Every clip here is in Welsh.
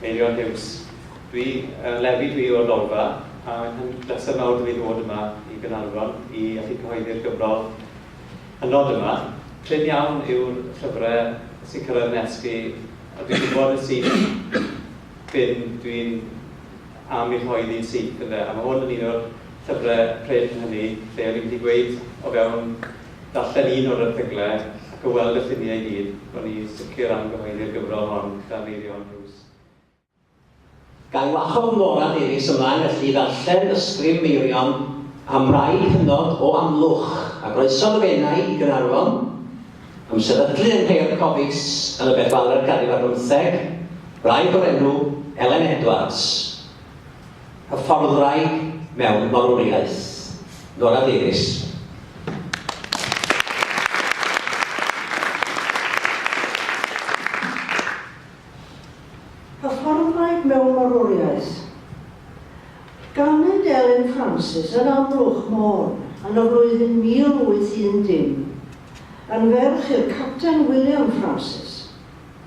Meirion Huws, Dwi, yy, Levi dwi o'r Lolfa, a mae hyn bleser mawr da fi ddod yma i Gaernarfon i allu cyhoeddi'r gyfrol hynod yma. Prin iawn yw'r llyfre sy'n cyrraedd nes fi, a dwi'n gwybod yn syth bin dwi'n am eu rhoi ddydd syth, ynde, a mae hwn yn un o'r llyfre prin hynny, lle o'n i'n gallu gweud o fewn Darllen un o'r erthyglau ac o weld y lluniau i gyd, ro'n i sicr am gyhoeddi'r gyfrol hon gyda Meirion Bruce. Ga i wahodd Morad Iris ymlaen felly i ddarllen ysgrif Meirion am rai hynod o Amlwch, a groeso'n fenai i Gaernarfon, am sefydlu yng Nghae'r Cofis yn y Bethwelert ganrif ar bymtheg, wraig o'r enw Elen Edwards. Hyfforddwraig mewn Barwriaeth, Nora Davies. Hyfforddwraig mewn Barwriaeth, Ganed Elin Francis yn Amlwch Môn yn y flwyddyn 1810, yn ferch i'r Capten William Francis.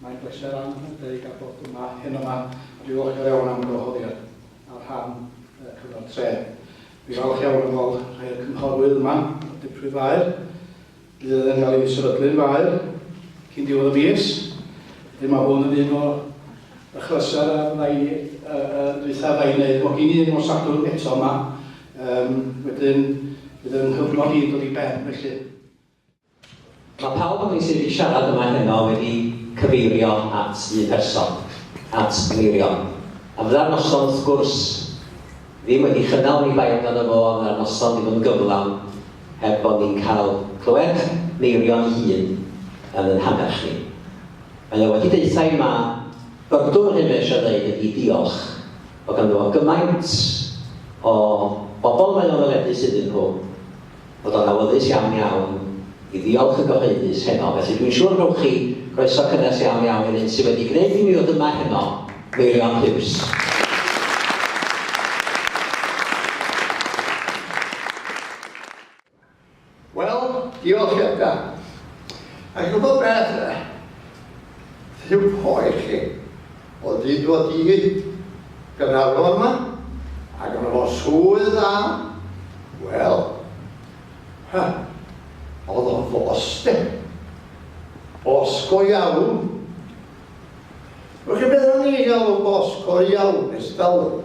Mae'n bleser anrhydedig â bod yma heno 'ma a dwi ddiolchgar iawn am yr wahoddiad ar rhan y Cyngor Tref. Dwi falch iawn o weld rhai o'r cynghorwyr yma o'r dirprwy faer. Bydd yn ddenial i mi sefydlu'r faer cyn diwedd y mis. Felly mae hwn yn un o achlysur a fydda i yn dwytha fydda i'n neud. Mae gen i un o Sadwrn eto yma. Um, wedyn bydd yng nghyfnod i'n dod i ben felly. Mae pawb ohonoch chi sydd wedi siarad yma heno wedi cyfeirio at un person, at Meirion. A fydda'r noson, wrth gwrs, ddim wedi chynnal oni bai amdano fo, a fydda'r noson ddim yn gyflawn heb bod ni'n cael clywed Meirion ei hun yn ein hannerch ni. Mae o wedi deutha i ma, byrdwn yr hyn mae o eisiau ddeud ydi diolch, bod ganddo fo gymaint o bobl mae o'n ddyledus iddyn nhw, bod o'n awyddus iawn iawn i ddiolch yn gyhoeddus heno, felly dwi'n siŵr rhowch chi groeso cynnes iawn iawn i'r un sydd wedi gwneud i mi ddod yma heno, Meirion Huws. Wel, diolch Edgar. A chi'n gwybod beth? Rhyw poer chi. O hyd o hyd, Gaernarfon yma, a ganddo fo swydd dda, wel, ha, oedd o'n fos, de. Fos go iawn. Wel, chi beth o'n i'n galw fos go iawn, ers talwm?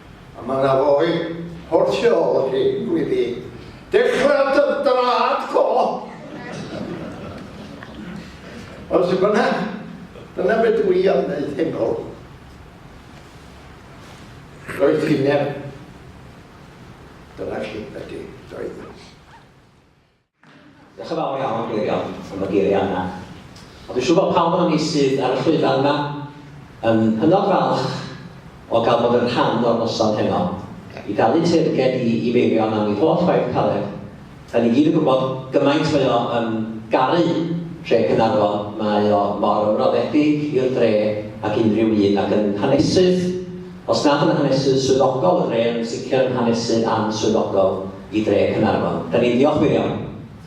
A mae yna foi o'r tu ôl chi, dwi di dechrau dy draed fo! Ond sut bynnag, dyna be dwi am wneud heno. Rhoi ffinder. Dyna chi, ydy, doedd. Diolch yn fawr iawn, Meirion, am y geiriau yna. Ond dwi'n siŵr bod pawb ohonon ni sydd ar y llwyfan yma yn hynod falch o gael bod yn rhan o'r noson heno. I dalu teyrnged i i Meirion am ei holl waith caled. Dan ni gyd yn gwybod gymaint mae o yn garu Tre Caernarfon, mae o mor ymroddedig i'r dre ag unrhyw un, ac yn hanesydd, os nad yn hanesydd swyddogol y dre, yn sicr yn hanesydd answyddogol. i dre Caernarfon. Da ni'n ddiolch wir iawn,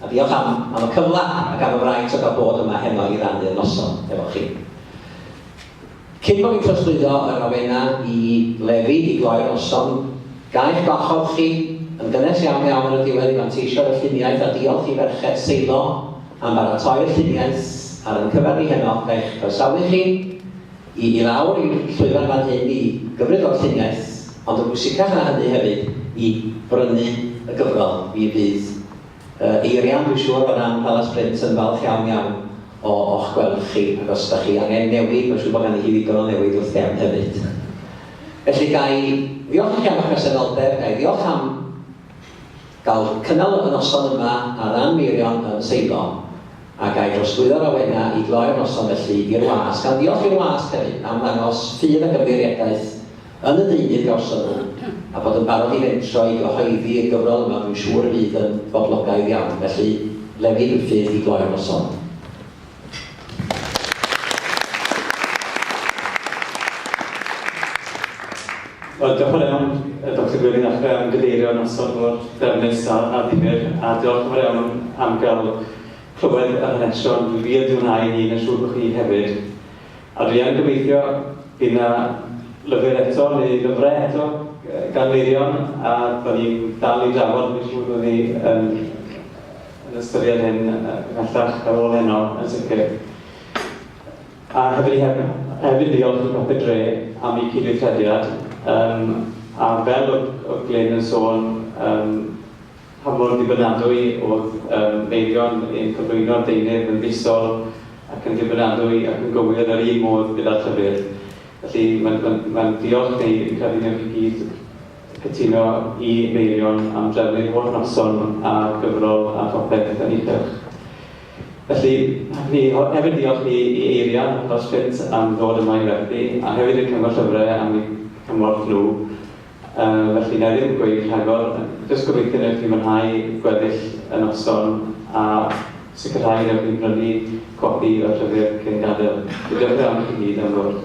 a diolch am am y cyfla ac am y fraint o gael bod yma heno i rannu y noson efo chi. Cyn bo fi'n trosglwyddo yr awena i Lefi i gloi'r noson, ga i'ch gwahodd chi, yn gynnes iawn iawn ar y diwedd i fanteisio'r y lluniaeth a diolch i ferched Seilo am baratoi'r lluniaeth ar yn cyfer ni heno, ga i'ch croesawu chi, I i lawr i'r llwyfan fan hyn i gymryd o'r llinell, ond yn bwysicach na hynny hefyd, i brynu y gyfrol. Mi fydd Eirian, dwi'n siŵr bod Ann Palas Print yn falch iawn iawn o o'ch gweld chi, ac os da chi angen newid, mae'n siŵr bod ganddi hi ddigon o newid wrth gefn hefyd. Felly, ga i ddiolch i chi am eich presenoldeb, ga i ddiolch am. Gall cynnal y noson yma ar ran Meirion yn Seiddo a ga i drosglwyddo'r awenau i gloi'r noson felly i'r wasg, gan ddiolch i'r wasg hefyd am ddangos ffydd ac ymddiriedaeth yn y deunydd gawson nhw a bod yn barod i fentro i gyhoeddi y gyfrol yma dwi'n siŵr y bydd yn boblogaidd iawn felly lefydd yw'r ffydd i gloi'r noson. Wel, diolch yn iawn, Doctor Gwilym, ac fe am gyfeirio noson mor ddefnus a, a ddifyr, a diolch yn fawr iawn am gael clywed yr hanesion. Dwi wir wedi mwynhau hyn, a siŵr bod chi hefyd. A dwi yn gobeithio bydd yna lyfr eto, neu lyfrau eto, gan Meirion, a bod ni'n dal i drafod, dwi'n siŵr bod ni yn. yn ystyried hyn ymhellach ar ôl heno yn sicr. A hefyd i hefyd ddiolch i Papur Dre am eu cydweithrediad, yym a fel oedd oedd Glyn yn sôn yym pa mor ddibynadwy oedd yym Meirion yn cyflwyno'r deunydd yn fisol ac yn ddibynadwy ac yn gywir yn yr un modd gyda'r llyfr. Felly mae'n mae'n mae'n diolch i ni, fi'n credu newch chi gyd Cytuno i Meirion am drefnu'r holl noson a gyfrol a phopeth yn ei chylch. Felly, hoffwn i hefyd ddiolch i Eiria dros Ffit am ddod yma i werthu, a hefyd i'r Cyngor Llyfrau am eu cymorth nhw. Felly, wna i ddim gweud rhagor, jyst gobeithio wnewch chi fwynhau gweddill y noson a sicrhau wnewch chi brynu copi o'r llyfr cyn gadael. Felly, diolch yn fawr i chi gyd am ddod.